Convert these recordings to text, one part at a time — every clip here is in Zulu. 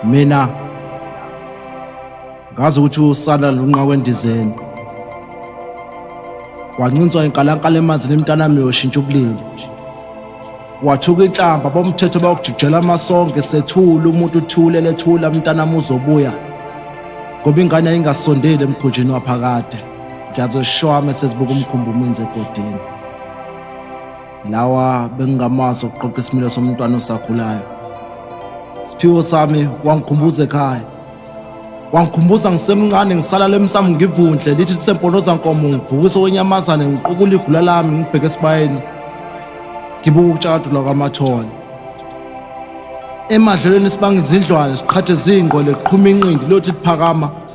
mina ngazi ukuthi usana lunqawe endizeni wancinswa inkalankala emanzini emntanami yoshintsha ubulili wathuka inhlamba bomthetho bawukujikijela amasonge sethula umuntu uthulele thula mntanami uzobuya ngoba ingane yayingasondeli emkhunjini waphakade ngiyazoshowa uma sezibuka umkhumbi umenze egodini lawa bengingamazi okuqoqa isimilo somntwana osakhulayo siphiwo sami wangikhumbuza ekhaya wangikhumbuza ngisemncane ngisalala emsamo ngivundle lithi lisemponoza nkomo ngivukise wenyamazane ngiqukula igula lami ngibheke esibayeni ngibuka ukutshakadula kwamathole emadlelweni sibanga izindlwane siqhathe zingqwele qhuma inqindi lothi liphakama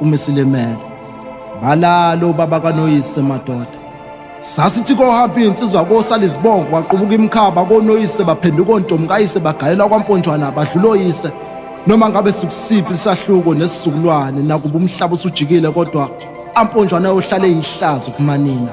umisilimele balalo baba kanoyise madoda sasithi kohamba iy'nsizwa kosala izibongo kwaqubuka imikhaba konoyise baphenduka ontomi kayise bagalela kwamponjwana badlula oyise noma ngabe sikusiphi isahluko nesizukulwane nakuba umhlaba usujikile kodwa amponjwana ayohlale eyihlazo kumanina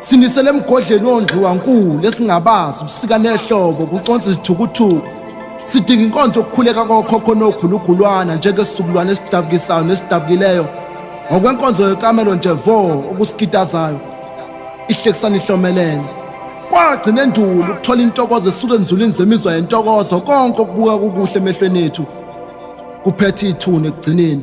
Sinisele emgodleni wondliwa nkulu esingabazi ubusika nehlobo kuconsa izithukuthuku. Sidinga inkonzo yokukhuleka kokhokho nogulugulwana njengesizukulwane esidabukisayo nesidabukileyo ngokwenkonzo yekamelo nje vo okusikitazayo ihlekisana ihlomelele kwagcina endulo ukuthola intokozo esuke enzulini zemizwa yentokozo konke okubuka kukuhle emehlweni ethu kuphethe ithuna ekugcineni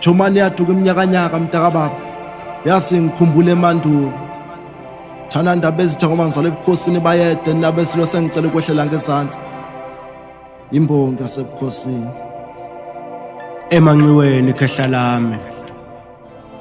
Jomani yaduka iminyakanyaka mntakababa yasi ngikhumbule emandulo thana ndaba ezitha ngoba ngizalwa ebukhosini bayede ndaba esilo sengicela ukwehlela ngezansi imbongi yasebukhosini emanxiweni khehla lami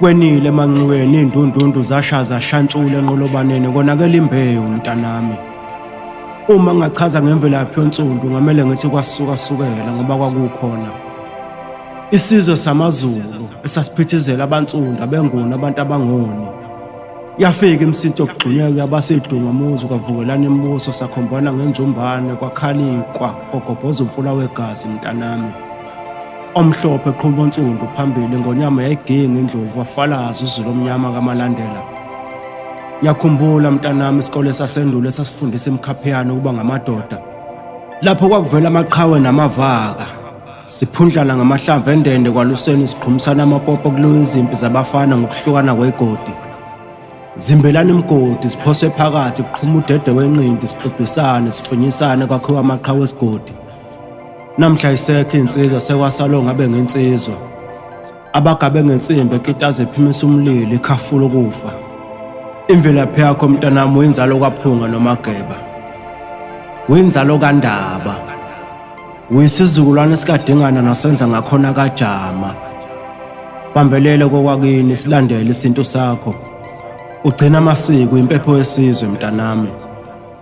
Kwenile emanxiweni indundundu zashaza shantshule enqolobaneni konakele imbewu mntanami. Uma ngingachaza ngemvelaphi yonsundu ngamele ngithi kwasuka sukela ngoba kwakukhona isizwe samaZulu esasiphithizela abansundu abenguni abantu abangoni. Yafika imsinto yokugxunyeka yabasedunga muzi kwavukelana imibuso sakhombana ngenjumbane kwakhalikwa kogobhoza umfula wegazi mntanami. Omhlophe qhuba onsundu phambili ngonyama yayiginga indlovu wafalaza uzulu omnyama kaMalandela. Yakhumbula mntanami isikole sasendulo esasifundisa imikhaphiyane ukuba ngamadoda. Lapho kwakuvela amaqhawe namavaka. Siphundlana ngamahlamvu endende kwaluseni siqhumisana amapopo kuliwa izimpi zabafana ngokuhlukana kwegodi. Zimbelana imigodi siphose phakathi kuqhuma udede wenqindi sixibhisane sifunyisane kwakhiwa amaqhawe esigodi. Namhla isekho insizwa sekwasalo ngabe ngensizwa. Abagabe ngensimbi ekitaze ephimisa umlilo ikhafula ukufa. Imvelaphi yakho mntanami uyinzalo kwaphunga nomageba. Uyinzalo kandaba. Uyisizukulwane sikadingana nosenza ngakhona kajama. Bambelele kokwakini silandele isintu sakho. Ugcina amasiko impepho yesizwe mntanami.